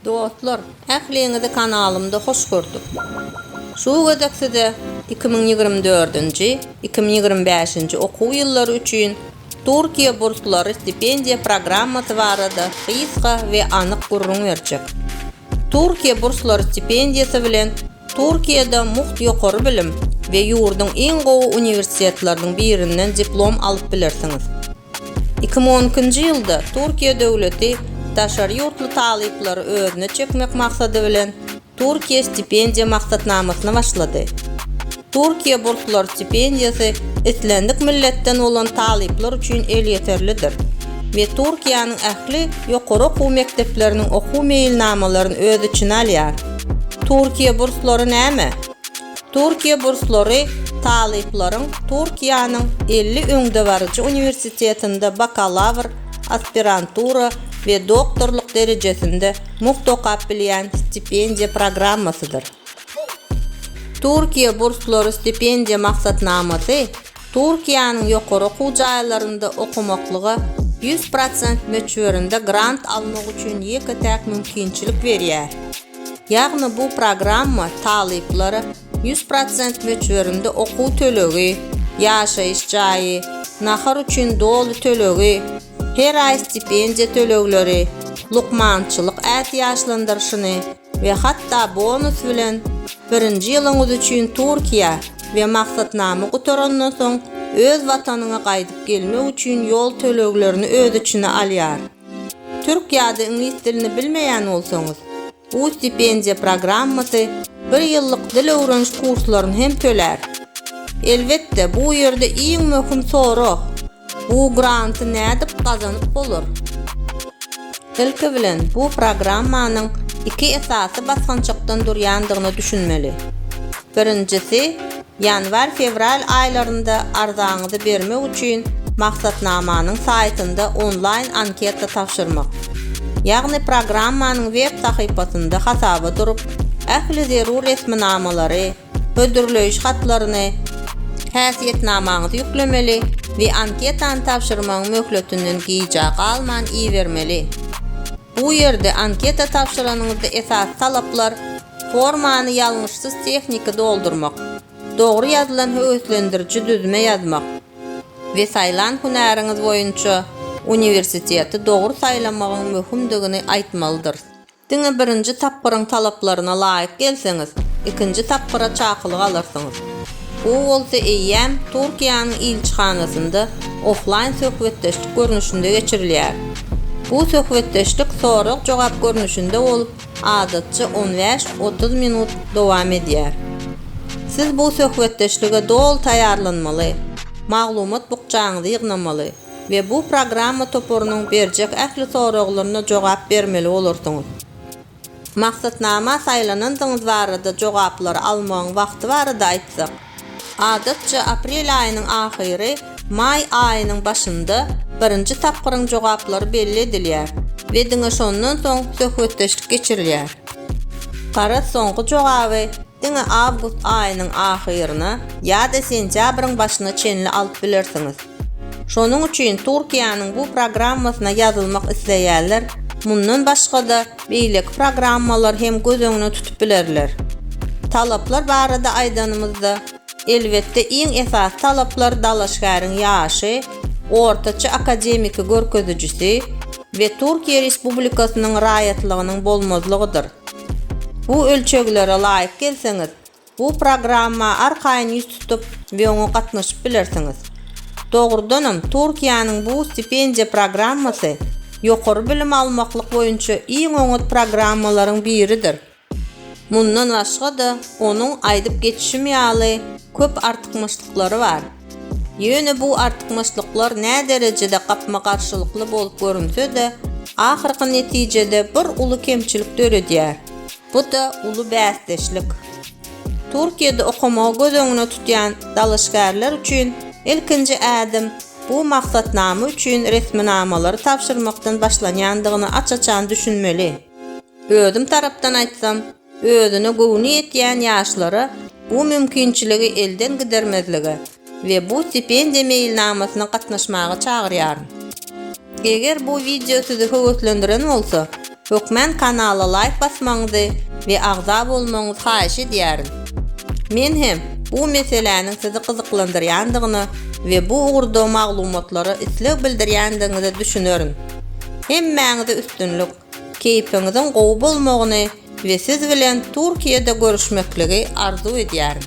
Dostlar ähliňizi kanalymda hoş gördük. Şu gezek size iki müň ýigrimi dördünji, iki müň ýigrimi bäşinji okuw ýyllary üçin Türkiýe burslary stipendiýa programmasy barada gysga we anyk gürrüň berjek. Türkiýe burslary stipendiýasy bilen Türkiýede mugt ýokary bilim we ýurduň iň gowy uniwersitetleriniň birinden diplom alyp bilersiňiz. Iki müň on ikinji ýylda Türkiýe döwleti daşary ýurtly talyplary özüne çekmek maksady bilen Türkiýe stipendiýa maksatnamasyny başlady. Türkiýe burslary stipendiýasy islendik milletden bolan talyplar üçin elýeterlidir we Türkiýäniň ähli ýokary okuw mekdepleriniň okuw meýilnamalaryny öz içine alýar. Türkiýe burslary näme? Türkiýe burslary talyplaryň Türkiýäniň elli öňdebaryjy uniwersitetinde bakalawr, aspirantura we doktorlyk derejesinde mugt okap bilýän stipendiýa programmasydyr. Türkiýe burslary stipendiýa maksatnamasy Türkiýäniň ýokary okuw jaýlarynda okamaklyga ýüz prosent möçberinde grant almak üçin ýeke-täk mümkinçilik berýär. Ýagny bu programma talyplara ýüz prosent möçberinde okuw tölegi, ýaşaýyş jaýy, nahar üçin doly tölegi, her aý stipendiýa tölegleri, lukmançylyk ätiýaçlandyryşyny, we hatda bonus bilen birinji ýylyňyz üçin Türkiýä we maksatnama gutarandan soň öz watanyňa gaýdyp gelmek üçin ýol töleglerini öz içine alýar. Türk ýa-da iňlis dilini bilmeýän bolsaňyz, bu stipendiýa programmasy bir ýyllyk dil öwreniş kurslaryny hem tölär. Elbetde, bu ýerde iň möhüm sorag, Bu granty nädip gazanyp bolar? Ilki bilen, bu programmanyň iki esasy basgançakdan durýandygyna düşünmeli. Birinjisi, ýanwar-fewral aýlarynda arzaňyzy bermek üçin maksatnamanyň saýtynda onlaýn anketa tabşyrmak. Ýagny programmanyň web sahypasynda hasaba durup, ähli zerur resminamalary, hödürleýiş hatlaryny, häsiýetnamaňyzy ýüklemeli we anketany tabşyrmagyň möhletinden gijä galman ibermeli. Bu ýerde anketa tabşyranyňyzda esasy talaplar formany ýalňyşsyz tehniki doldurmak, dogry ýazylan höweslendiriji düzme ýazmak we saýlan hünäriňiz boýunça uniwersiteti dogry saýlamagyň möhümdigini aýtmalydyrs. Diňe birinji tapgyryň talaplaryna laýyk gelseňiz, ikinji tapgyra çakylyk alarsyňyz. Bu bolsa eýýäm Türkiýäniň ilçihanasynda oflaýn söhbetdeşlik görnüşinde geçirilýär. Bu söhbetdeşlik sorag-jogap görnüşinde bolup, adatça on bäş, otuz minut dowam edýär. Siz bu söhbetdeşlige doly taýýarlanmaly, maglumat bukjaňyzy ýygnamaly. we bu programma toparynyň berjek ähli soraglaryna jogap bermeli bolarsyňyz. Maksatnama saýlanandygyňyz barada jogaplary almagyň wagty barada aýtsak, adatça aprel aýynyň ahyry, maý aýynyň başynda birinji tapgyryň jogaplary belli edilýär we diňe şondan soň söhbetdeşlik geçirilýär. Garaz soňky jogaby diňe awgust aýynyň ahyryna ýa-da sentýabryň başyna çenli alyp bilersiňiz. Şonuň üçin Türkiýäniň bu programmasyna ýazylmak isleýänler mundan başga-da beýleki programmalary hem göz öňüne tutup bilerler. Talaplar barada aýdanymyzda, elbetde iň esasy talaplar dalaşgäriň ýaşy, ortaça akademiki görkezijisi we Türkiýe Respublikasynyň raýatlygynyň bolmazlygydyr. Bu ölçeglere laýyk gelseňiz, bu programma arkaýyn ýüz tutup we oňa gatnaşyp bilersiňiz. Dogrudanam, Türkiýäniň bu stipendiýa programmasy ýokary bilim almaklyk boýunça iň oňat programmalaryň biridir. Mundan başga-da, onuň aýdyp geçişim ýaly köp artykmaçlyklary bar. Ýöne bu artykmaçlyklar näderejede gapma-garşylykly bolup görünse-de, ahyrky netijede bir uly kemçilik döredýär, bu-da uly bäsdeşlik. Türkiýede okamagy göz öňüne tutýan dalaşgärler üçin ilkinji ädim bu maksatnama üçin resminamalary tabşyrmakdan başlanýandygyna aç-açan düşünmeli. Özüm tarapdan aýtsam, özüne göwni ýetýän ýaşlara bu mümkinçiligi elden gidermezlige we bu stipendiýa meýilnamasyna gatnaşmaga çagyrýaryn. Eger bu wideo sizi höweslendiren bolsa, hökmän kanala laýk basmagyňyzy we agza bolmagyňyzy haýyş edýärin. Men hem bu meseläniň sizi gyzyklandyrýandygyna we bu ugurda maglumatlara isleg bildirýändigiňize düşünerin. Hemmäňize üstünlik! Keýpiňiziň gowy bolmagyny we siz bilen Türkiýede görüşmekligi arzuw edýärin.